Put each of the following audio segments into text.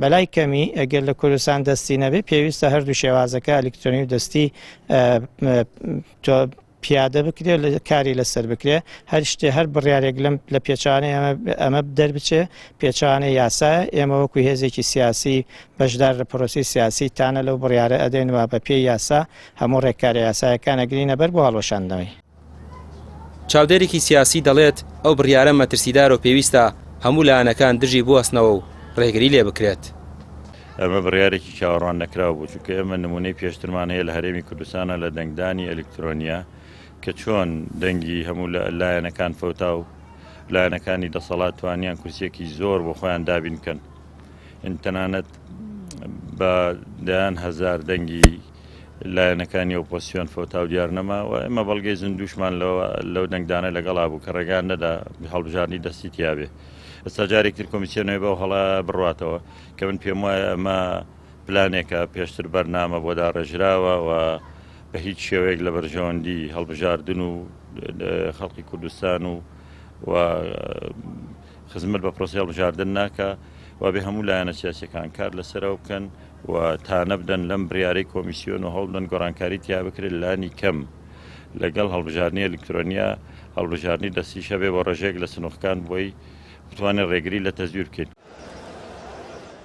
بەلای کەمی ئەگەر لە کوردستان دەستی نەبێت پێویستە هەردوو شێوازەکە ئەلکترۆنی و دەستی پیادە بکرێ لە کاری لەسەر بکرێ هەر شتێ هەر بڕارێک لەم لە پێچانێ ئەمە ئەمە دەربچێ پێچانێ یاسا ئێمە وەکو هێزێکی سیاسی بەشدار لە پرۆسی سیاسی تانە لەو بڕارە ئەدەین و بە پێی یاسا هەموو ڕێکارە یاسایەکانە گرینە بەر بۆ هەڵۆشاندنەوەی چاودێرێکی سیاسی دەڵێت، ئەو بڕیارە مەترسیدارە و پێویستە هەموو لایەنەکان دژی بوەستنەوە و رێگری لێ بکرێت. ئەمە بڕیارێکی چاوەڕوان نەکراو بوو، چونکە ئێمە نموونەی پێشترمان هەیە لە هەرێمی کوردستانا لە دەنگدانی ئەلیکترۆنیا کە چۆن دەنگی هەموو لایەنەکان فەوتا و لایەنەکانی دەسەڵات توانیان کورسییەکی زۆر بۆ خۆیان دابین بکەن تەنانەت بە دەیان هەزار دەنگی لایەنەکانی ئۆپۆسیۆن فەوتاو دیار نەما و ئێمە بەڵگەی زندوشمان لەو دەنگدانە لەگەڵا بوو کە ڕێگان نەدا هەڵبژاردننی دەستی تیاابێ ئەستا جارێک تر کۆمیسیۆنەوە بەو هەڵا بڕاتەوە کە من پێم وایە ئەمە پلانێکە پێشتر بەرنامە بۆ داڕێژراوە و بە هیچ شێوەیەک لە بەرژەوەندی هەڵبژاردن و خەڵکی کوردستان و و خزمەت بە پرۆسەی هەڵبژاردن ناکا، وابێ هەموو لایەنە سیاسییەکان کار لەسەرەوە بکەن و تانە بدەن لەم بریارەی کۆمیسیۆن و هەوڵبدەن گۆڕانکاری تیا بکرێت لانی کەم لەگەڵ هەڵبژاردنی ئەلیکترۆنیا هەڵبژاردنی دەستیش هەبێت بۆ ڕێژەیەک لە سنووڕکان بۆی بتوانێت ڕێگری لە تەزویر بکەیت.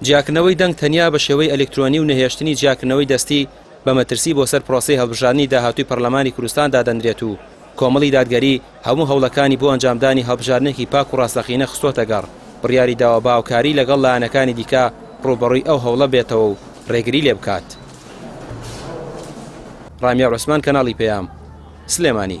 جیاکردنەوەی دەنگ تەنیا بە شێوەی ئەلیکترۆنی و نەهێشتنی جیاکردنەوەی دەستی، بە مەترسی بۆ سەر پرۆسەی هەڵبژاردنی داهاتووی پەرلەمانی کوردستان دادەنرێت و کۆمەڵی دادگەری هەموو هەوڵەکانی بۆ ئەنجامدانی هەڵبژاردنێکی پاک و ڕاستەقینە خستۆتە گەڕ، بڕیاری داوە بە هاوکاری لەگەڵ لایەنەکانی دیکە ڕووبەڕووی ئەو هەوڵە بێتەوە و ڕێگری لێ بکات. ڕامیار عوسمان کەناڵی پەیام، سلێمانی.